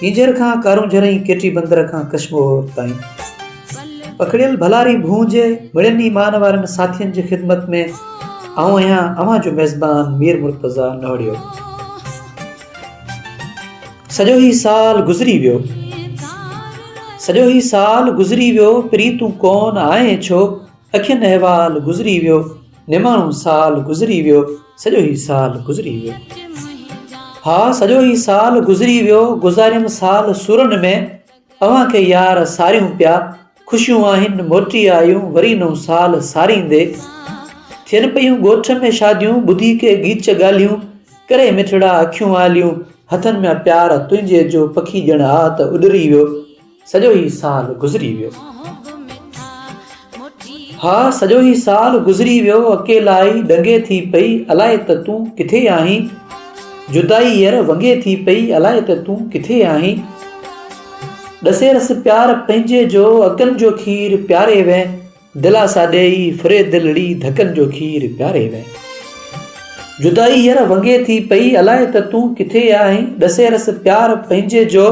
ڪينجهر کان ڪارونجهر ۽ ڪيٽي بندر کان ڪشمور تائين پکڙيل ڀلاري ڀونء جي مڙين ئي مان وارن ساٿين جي خدمت ۾ آئون آهيان اوهان جو ميزبان مير مرتضيٰ نوڙيو سڄو هي سال گذري ويو سڄو هي سال گذري ويو پري تون ڪون آئين ڇو اکين احوال گذري ويو نماڻو سال گذري ويو سڄو هي سال گذري ويو ها سڄو هي سال گذري ويو گذاريم سال سورن ۾ اوهان کي يار ساريون پيا خوشيون آهن موٽي آيون وري نو سال ساريندي ٿين پيون ڳوٺ ۾ شاديون ٻڌي کي گيچ ڳالهيون ڪري مٺڙا اکيون آليون هٿن ۾ پيار تنهنجي جو پکي ڄڻ آ ته اڏري ويو سڄو هي سال گذري ويو. ها سڄو هي سال گذري ويو اڪيلائي ڏنگي ٿي پئي الائي ته تون ڪٿي آهين جدائي ير ونگي ٿي پئي الائي ته تون ڪٿي آهين ڏسي رس پيار پنهنجي جو اکن جو کير پياري وين دلاسا ڏيئي ڦري دلڙي ڌڪن جو کير پياري وين جدائي ير ونگي ٿي پئي الائي ته تون ڪٿي آهين ڏسي رس پيار پنهنجي جو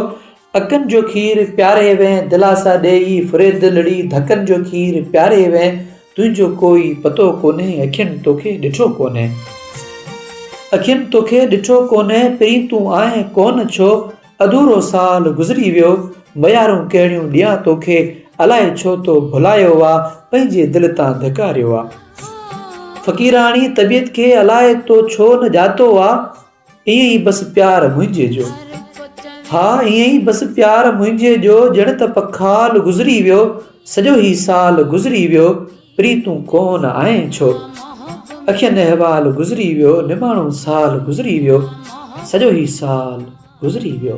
اکين جو کير پياري وين دلاسا ڏيئي فريدلڙي ڌڪن جو کير پياري وين تنهنجو ڪوئي پتو ڪونهي اکين توکي ڏٺو ڪونهي اکين توکي ڏٺو ڪونهي پرين تون آئين ڪونه ڇو اڌورو سال گذري ويو ميارون ڪهڙيون ڏيان توکي الائي ڇو تو ڀلايو آ پنهنجي دل تان ڌڪاريو آ فقيراڻي طبيعت کي الائي تو ڇو نه ڄاتو آ. ائين ئي بس پيار منهنجي جو. ها ائين ئي بس پيار منهنجي جو ڄڻ ته پکال گذري ويو سڄو هي سال گذري ويو پريتون ڪون آئين ڇو اکين احوال گذري ويو نماڻو سال گذري ويو سڄو هي سال گذري ويو.